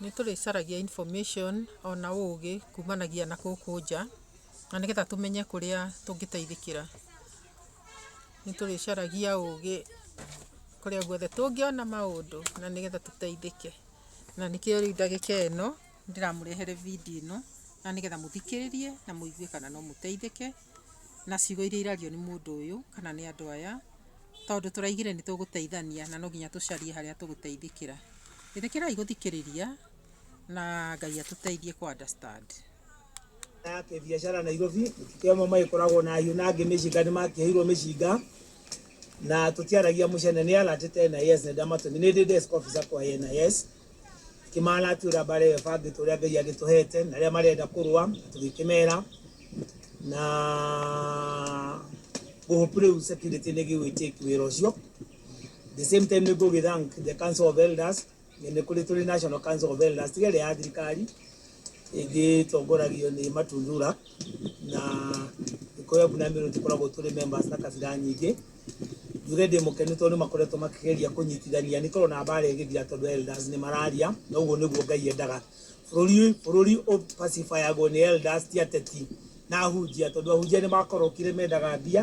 Nĩ tũrĩcaragia information ona ũgĩ kumanagia na gũkũ nja, na nĩgetha tũmenye kũrĩa tũngĩteithĩkĩra. Nĩ tũrĩcaragia ũgĩ kũrĩa guothe tũngĩona maũndũ na nĩgetha tũteithĩke. Na nĩkĩo rĩu ndagĩka ĩno ndĩramũrehere video ĩno na nĩgetha mũthikĩrĩrie na mũigue kana no mũteithĩke. na ciugo iria irario nĩ mũndũ ũyũ kana nĩ andũ aya, tondũ tũraigire nĩ tũgũteithania na no nginya tũcarie harĩa tũgũteithĩkĩra. Ĩtĩkĩrai gũthikĩrĩria na Ngai atũteithie kũ understand. ya kĩbiacara Nairobi mũtitũ amwe magĩkoragwo na hiũ na angĩ mĩcinga nĩ makĩheirwo mĩcinga na tũtiaragia mũcene nĩ alert ena yes nĩ ndamatũmire nĩ ndĩ desk officer kwa ena yes Tũkĩmaara tũrĩa mareba ngĩtwa ũrĩa Ngai agĩtũhete na arĩa marenda kũrũa tũgĩkĩmera na ngũhope rĩu security nĩ gĩgwĩ take wĩra ũcio. The same time nĩ ngũgĩ thank the council of elders nĩ kũrĩ tũrĩ national council of elders tiga ĩrĩa ya thirikari ĩgĩtongoragio nĩ Matundura na Gĩkũyũ na Meru tũkoragwo tũrĩ members na kabira nyingĩ. Njuge ndĩ mũkenu tondũ nĩ makoretwo makĩgeria kũnyitithania nĩ korwo na mbara ĩgĩthira tondũ elders nĩ mararia na ũguo nĩguo Ngai endaga. Bũrũri bũrũri ũ pacify agwo nĩ elders ti ateti na ahunjia tondũ ahunjia nĩ makorokire mendaga mbia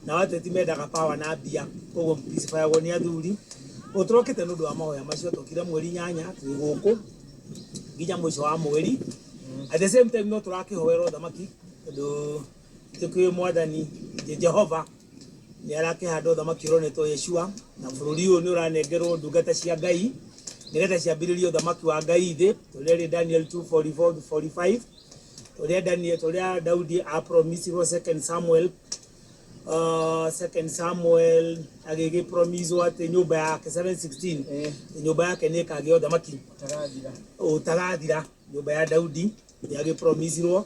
nao ateti mendaga power na mbia koguo ũ pacify agwo nĩ athuri. Ũguo tũrokĩte nĩ ũndũ wa mahoya macio twokire mweri inyanya twĩ gũkũ nginya mũico wa mweri. At the same time no tũrakĩhoera ũthamaki tondũ... Nĩ kwĩ Mwathani nĩ Jehova nĩ arakĩhanda ũthamaki ũronetwo Yeshua, na bũrũri ũyũ nĩ ũranengerwo ndungata cia Ngai nĩgetha ciambĩrĩrie ũthamaki wa Ngai thĩ, ũrĩa ũrĩ Daniel 2:44 to 45, ũrĩa Daniel, ũrĩa Daudi a promise wo second Samuel, uh, second Samuel agĩgĩ promise wo atĩ nyũmba yake 7:16 Eh. nyũmba yake nĩ ĩkagĩa ũthamaki Tarathira. ũtagathira nyũmba ya Daudi nĩ agĩ promise wo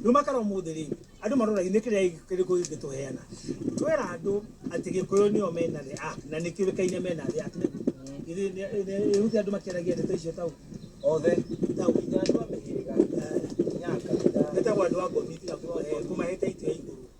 Ndumakara ũmũthĩ rĩ, andũ maroragia nĩ kĩrĩa kĩrĩkũ kĩngĩtũheana. Twera andũ atĩ Gĩkũyũ nĩo mena the app na nĩ kĩũĩkaine mena the app nĩguo. Githĩ rĩu ti andũ makĩaragia ndeto icio tau? Othe tau. Nginya andũ a mĩhĩrĩga. Nginya a kabira. Metagwo andũ a ngothi tiga kũmahe title ya igũrũ.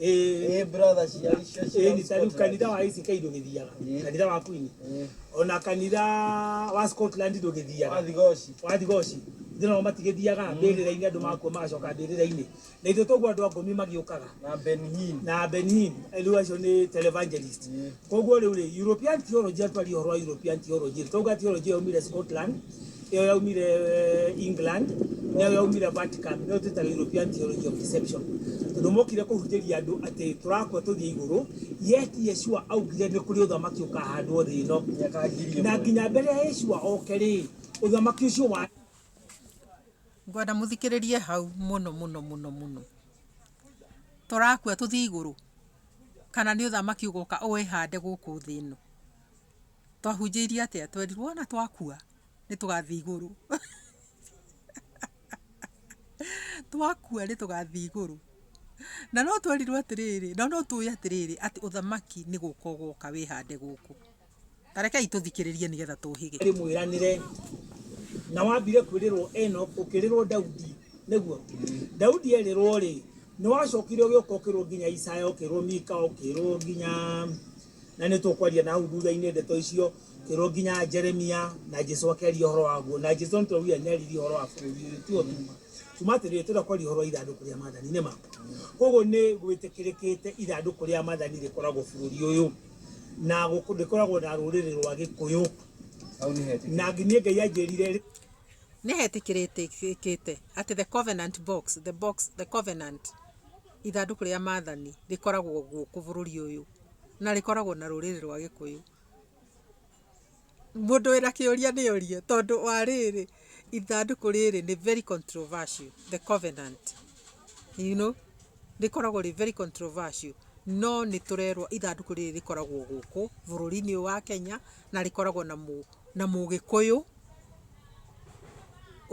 ĩĩ brother cia icio cia ĩni ta rĩu kanitha wa ACK ndũgĩthiaga Ĩĩ. kanitha wa Queen Eh, ona kanitha wa Scotland ndũgĩthiaga wa thigoci wa thigoci ithuĩ nao matigĩthiaga mbĩrĩra-inĩ andũ makua magacoka mbĩrĩra-inĩ na ithuĩ toguo andũ a ngũmi magĩũkaga na Ben Hinn na Benhin rĩu acio nĩ televangelist Ĩĩ. Koguo rĩu rĩ, European theology atwari ũhoro wa European theology, twauga theology ĩyo yaumire Scotland, ĩyo yaumire eh, England, na ĩyo yaumire Vatican, nĩyo twĩtaga European theology of deception. Tondũ mokire kũhunjĩria andũ atĩ tũrakua tũthiĩ igũrũ, yet Yeshua augire nĩ kũrĩ ũthamaki ũkahandwo thĩ ĩno. Mĩaka ngiri ĩmwe. Na nginya mbere ya Yeshua oke rĩ, ũthamaki ũcio wa ngwenda mũthikĩrĩrie hau mũno mũno mũno mũno tũrakua tũthiĩ igũrũ kana nĩ ũthamaki ũgoka ũwĩhande gũkũ thĩ ĩno. Twahunjĩirio atĩa? Twerirwo ona twakua nĩ tũgathiĩ igũrũ. Twakua nĩ tũgathiĩ igũrũ. Na no twerirwo atĩrĩrĩ, na no tũĩ atĩrĩrĩ atĩ ũthamaki nĩ gũka ũgoka wĩhande gũkũ. Ta rekei tũthikĩrĩrie nĩgetha tũũhĩge. ndĩmwĩranĩre na wambire kwĩrĩrwo Enoch ũkĩrĩrwo Daudi nĩguo Daudi erĩrwo rĩ nĩwacokire ũgĩũka ũkĩrwo nginya Isaya ũkĩrwo Mika ũkĩrwo nginya na nĩtũkwaria na hau thutha-inĩ ndeto icio ũkĩrwo nginya Jeremia na Jesu akĩaria ũhoro waguo na Jesu nĩtũraugire nĩaririe ũhoro wa bũrũri ũyũ tiyo tuma tuma atĩrĩrĩ tũrenda kwaria ũhoro wa ithandũkũ rĩa mathani nĩma koguo nĩ gwĩtĩkĩrĩkĩte ithandũkũ rĩa mathani rĩkoragwo bũrũri ũyũ Na gũkũ ndĩkoragwo na rũrĩrĩ rwa Gĩkũyũ. Na niĩ Ngai anjĩrire. Nĩhetĩkĩrĩkĩte atĩ The Covenant Box, The Box, The Covenant, Ithandũkũ rĩa Maathani, rĩkoragwo gũkũ bũrũri ũyũ, na rĩkoragwo na rũrĩrĩ rwa Gĩkũyũ. Mũndũ wĩna kĩũria nĩ ũrie tondũ wa rĩrĩ ithandũkũ rĩrĩ nĩ very controversial the covenant you know rĩkoragwo rĩ very controversial no nĩ tũrerwo ithandũkũ rĩrĩ rĩkoragwo gũkũ bũrũri-inĩ ũyũ wa Kenya na rĩkoragwo na mũgĩkũyũ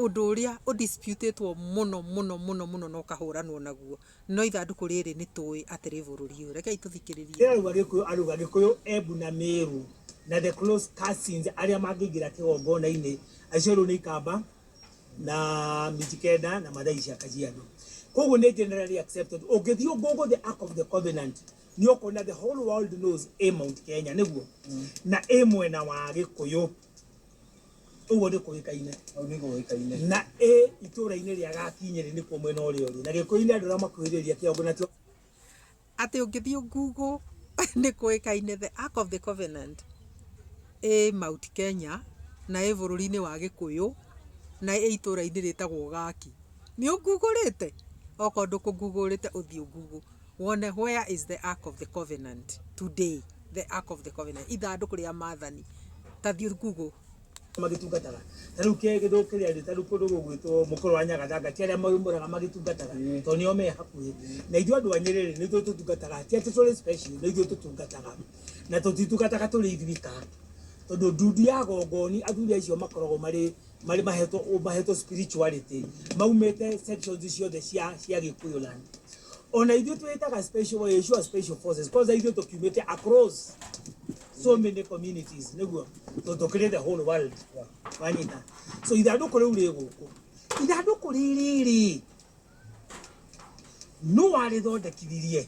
ũndũ ũrĩa ũ dispute ĩtwo mũno mũno mũno no kahũranwo naguo. No ithandũkũ rĩrĩ nĩ tũũĩ atĩ rĩ bũrũri ũyũ. Rekei tũthikĩrĩrie. Ndĩrauga Gĩkũyũ, Aruga, Gĩkũyũ, Embu na Mĩĩru na the close cousins arĩa mangĩingĩra kĩgongona-inĩ acio rĩu nĩ ikamba na Mijikenda na Mathai cia Kajiado. Kwoguo nĩ generally accepted. Ũngĩthiĩ Google the Ark of the Covenant nĩ ũkuona the whole world knows ĩ Mount Kenya, nĩguo? Na ĩ mwena wa Gĩkũyũ. Ũguo nĩ kũĩkaine. Ũguo nĩ kũĩkaine. Na ĩ itũũra-inĩ rĩa Gakinyĩrĩ nĩkuo mwena ũrĩa ũrĩ. Na Gĩkũyũ-inĩ andũ arĩa makuhĩrĩirie kĩongo nakĩo. Atĩ ũngĩthiĩ Google nĩ kũĩkaine The Ark of the Covenant ĩ Mount Kenya na ĩ bũrũri-inĩ wa Gĩkũyũ na ĩ itũũra-inĩ rĩtagwo Gaki. Nĩ ũ Google-ĩte? Okorwo ndũkũ Google-ĩte ũthiĩ ũ Google. Wone where is the ark of the covenant today the ark of the covenant ithandũkũ rĩa maathani ta thiĩ google magĩtungataga ta rĩu ke gĩthũ kĩrĩa rĩ ta rĩu kũndũ gũgwĩtwo mũkũrũ wa nyagathanga ti arĩa maumũraga magĩtungataga tondũ nĩo me hakuhĩ na ithuĩ andũ a nyĩrĩ rĩ nĩ ithuĩ tũtungataga ti atĩ tũrĩ special nĩ ithuĩ tũtungataga na tũtitungataga tũrĩ ithuĩ ka tondũ ndundi ya gongoni athuri acio makoragwo marĩ marä mahetwo å mahetwo spirituality maumĩte sections ciothe cia cia gĩkũyũ land ona ithuĩ twĩtaga special wa Yeshua special forces kwanza ithuĩ tũkiumĩte across so many communities nĩguo tondũ tũkĩrĩ the whole world wanyita so ithandũkũ rĩu rĩ gũkũ ithandũkũ rĩrĩ rĩ nũ warĩthondekithirie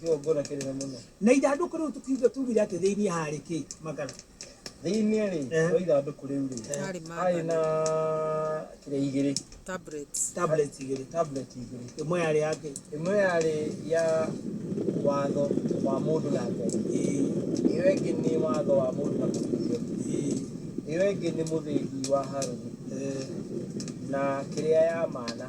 Sio ngona kile na muno. Na ithandũkũ rĩu tũkiuga tugire atĩ thĩinĩ harĩ kĩ makara. Thĩinĩ rĩ, eh. wa ithandũkũ rĩu rĩ, eh. harĩ na kĩrĩa igĩrĩ. Tablets. Tablets igĩrĩ. Tablets igĩrĩ. Ĩmwe yarĩ yake. Ĩmwe yarĩ ya watho wa mũndũ na Ngai. Ĩyo ĩngĩ nĩ watho wa mũndũ na mũthithio. Ĩyo ĩngĩ nĩ mũthĩgi wa Haruni. Na kĩrĩa ya mana.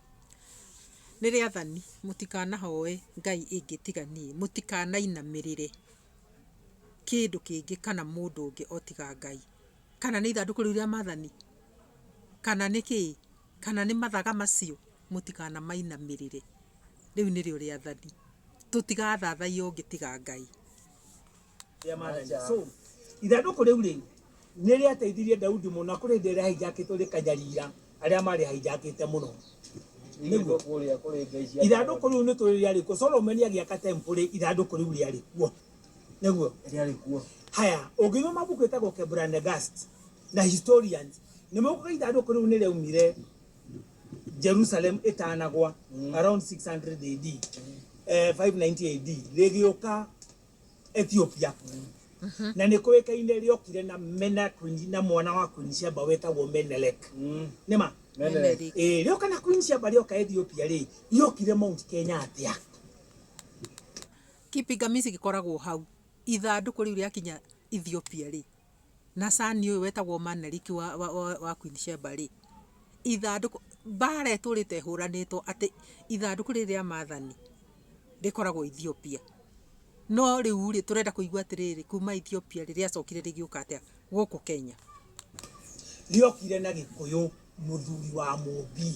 Nĩ rĩathani, mũtikanahoe ngai ĩngĩ tiga niĩ, mũtikanainamĩrĩre kĩndũ kĩngĩ kana mũndũ ũngĩ o tiga Ngai. Kana nĩ ithandũkũ rĩu rĩa maathani? Kana nĩ kĩĩ? Kana nĩ mathaga macio? Mũtikanamainamĩrĩre. Rĩu nĩrĩo rĩathani. Tũtigathathaiye ũngĩ tiga Ngai. rĩa maathani so ithandũkũ rĩu rĩ nĩ rĩateithirie daudi mũno na kũrĩ ndĩ rĩahinjakĩtwo rĩkanyariira arĩa marĩ hahinjakĩte mũno nĩguo kũrĩa kũrĩ ngai cia ithandũkũ rĩu nĩ tũrĩ rĩarĩ kuo solomoni agĩaka tempũrĩ ithandũkũ rĩu rĩarĩ kuo nĩguo rĩarĩ kuo haya ũngĩthoma mabuku ĩtagwo kebranegast na historians nĩ maugaga ithandũkũ rĩu nĩ rĩaumire jerusalem ĩtanagwa around 600 ad eh, 590 ad rĩgĩũka Ethiopia kuu na nä kå ä kaine rä okire na mena Queen- na mwana wa Queen Sheba wetagwo Menelik nä ma Menelik. Ĩĩ, rĩoka na Queen Sheba rĩoka Ethiopia rĩ riokire Mount Kenya atĩa Kipingamizi gĩkoragwo hau. Ithandũkũ rĩu rĩakinya Ethiopia-rĩ. na son ũyũ wetagwo Manelik wa Queen Sheba rĩ, ithandũkũ, mbara ĩtũrĩte ĩhũranĩtwo atĩ ithandũkũ rĩrĩ rĩa maathani rĩkoragwo Ethiopia. No rĩu rĩ, tũrenda kũigua atĩrĩrĩ, kuuma Ethiopia rĩ, rĩacokire rĩgĩũka atĩa gũkũ Kenya? Rĩokire na Gĩkũyũ mũthuri wa Mũmbi.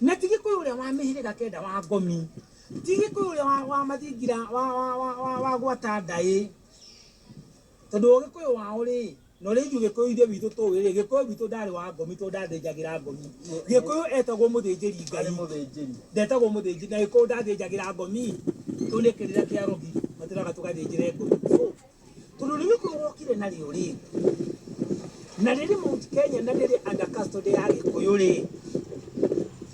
Na ti Gĩkũyũ ũrĩa wa mĩhĩrĩga kenda wa Ngomi, ti Gĩkũyũ ũrĩa wa mathingira wa gwata ndaĩ, Tondũ ũgĩkũyũ wao rĩ, na ũrĩa ithuĩ gĩkũyũ ithuĩ witũ tũĩ rĩ, gĩkũyũ witũ ndarĩ wa ngomi tondũ ndathĩnjagĩra ngomi. Gĩkũyũ etagwo mũthĩnjĩri Ngai. Ndetagwo mũthĩnjĩri, na gĩkũyũ ndathĩnjagĩra ngomi tondũ nĩ kĩrĩra kĩa arogi matũraga tũgathĩnjĩre ngomi. So, tondũ nĩ gĩkũyũ wokire narĩo rĩ, na rĩrĩ Mount Kenya na rĩrĩ under custody ya gĩkũyũ rĩ,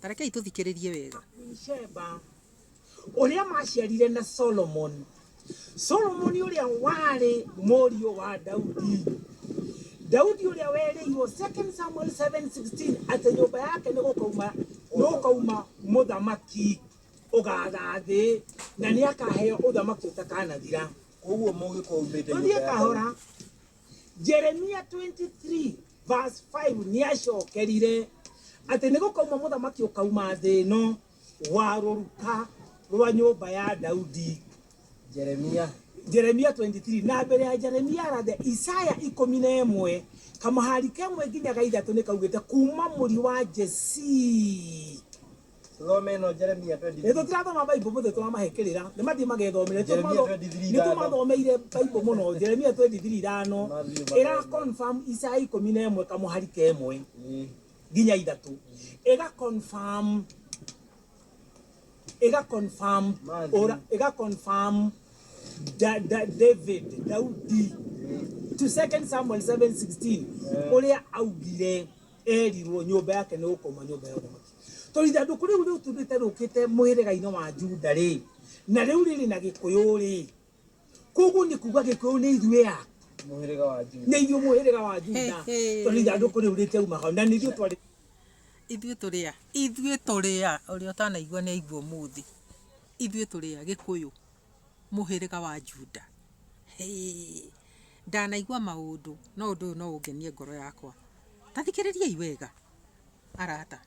Ta rekei tũthikĩrĩrie wega. Sheba ũrĩa maciarire na Solomoni. Solomoni ũrĩa warĩ mũriũ wa Daudi. Daudi ũrĩa werĩirwo 2 Samuel 7:16 atĩ nyũmba yake nĩ gũkauma nĩ gũkauma mũthamaki ũgatha thĩ na nĩ akaheo ũthamaki ũtakanathira. Koguo mũgĩkũumĩte nyũmba Tũthiĩ ya Daudi. kahora. jeremia 23 verse 5 nĩ acokerire atĩ nĩ gũkauma mũthamaki ũkauma thĩ ĩno wa rũruka rwa nyũmba ya daudi Jeremia. jeremia 23 na mbere ya jeremia rathe isaya ikũmi na ĩmwe kamahari kemwe nginya ga ithatũ nĩ kaugĩte kuma mũri wa jesii Thome ĩno Jeremia 23. Ĩĩ tũtirathoma Bible mũthĩ twamahe kĩrĩra. Nĩ mathiĩ magethomere. Nĩ Jeremia tũmatho- 23 nĩ tũmathomeire Bible mũno. Jeremia 23 ithano. Mathiĩ magethomere. Ĩra confirm Isaya ikũmi na ĩmwe kamũhari ka ĩmwe Ĩĩ. nginya ithatũ. Ĩga confirm. Ĩga confirm. Mathiĩ. Ũra- Ĩga confirm. Da- Da- David, Daudi. Ĩĩ. To 2 Samuel 7:16 Eh. ũrĩa augire Eerirũo, Nyũmba yake nĩ gũkoima Nyũmba ya Ũthamaki. Tondũ ithandũkũ rĩu rĩutundĩte rĩũkĩte mũhĩrĩga-inĩ wa Juda-rĩ, na rĩu rĩrĩ na Gĩkũyũ-rĩ, kwoguo nĩ kuuga Gĩkũyũ nĩ ithuĩ a? Mũhĩrĩga wa Juda. Nĩ ithuĩ mũhĩrĩga wa Juda, tondũ ithandũkũ rĩu rĩtiauma hau, na nĩ ithuĩ twarĩ. Ithuĩ tũrĩ a? Ithuĩ tũrĩ a? Ũrĩa ũtanaigua nĩ aigue ũmũthĩ. Ithuĩ tũrĩ a? Gĩkũyũ. mũhĩrĩga wa Juda. Hĩĩ! Ndanaigua maũndũ, no ũndũ ũyũ no ũngenie ngoro yakwa. Ta thikĩrĩriai wega, arata.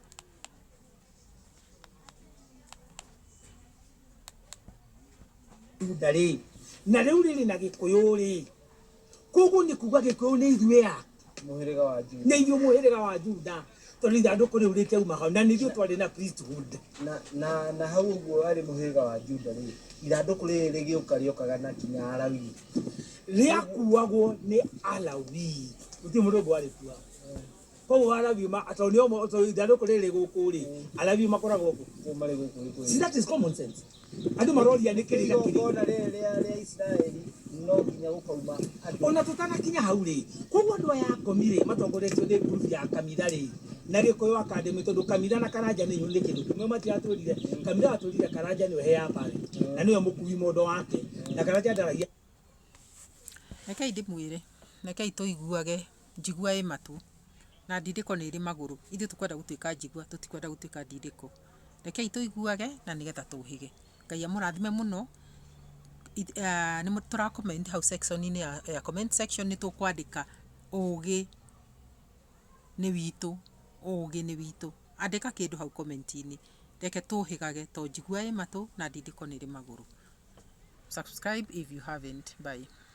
Juda rĩ, na rĩu rĩrĩ na gĩkũyũ rĩ, Kũguo nĩ kuuga Gĩkũyũ nĩ ithuĩ a? Mũhĩrĩga wa Juda. Nĩ ithuĩ mũhĩrĩga wa Juda, tondũ ithandũkũ rĩu rĩkĩauma hau, na nĩ ithuĩ twarĩ na priesthood. Na, na, na hau ũguo warĩ mũhĩrĩga wa Juda rĩ, ithandũkũ rĩrĩ rĩgĩũka rĩokaga na kinya Alawii. Rĩakuuagwo nĩ Alawii. Gũtirĩ mũndũ ũngĩ warĩkuuaga. koguo arabiu ma tondũ nĩ omo tondũ ithandũkũ rĩrĩ rĩ gũkũ rĩ arabiu makoragwo gũkũ marĩ gũkũ rĩ see that is common sense andũ maroria nĩ kĩrĩga kĩrĩga igongona rĩrĩ rĩa rĩa isiraeli no nginya gũkauma andũ ona tũtanakinya hau rĩ koguo andå aya akomi rĩ matongoretio nä ngurubu ya kamira rĩ na gä kå yå akandämä tondå kamira na karanja nä nä kä ndå kä mwe matiratwä rire kamira atwä rire karanja nä we heamba rä na nä we må kui mondo wake na karanja ndaragia rekei ndĩmwĩre rekei tũiguage njigua ĩ matũ, na ndindĩko nĩ ĩrĩ magũrũ. Ithuĩ tũkwenda gũtuĩka njigua, tũtikwenda gũtuĩka ndindĩko. Rekei tũiguage na nĩgetha tũhĩge. Ngai amũrathime mũno. Nĩ tũra comment hau section -inĩ ya comment section nĩ tũkwandĩka ũgĩ nĩ witũ, ũgĩ nĩ witũ. Andĩka kĩndũ hau comment -inĩ. Reke tũhĩgage to njigua ĩ matũ na ndindĩko nĩ ĩrĩ magũrũ. Subscribe if you haven't. Bye.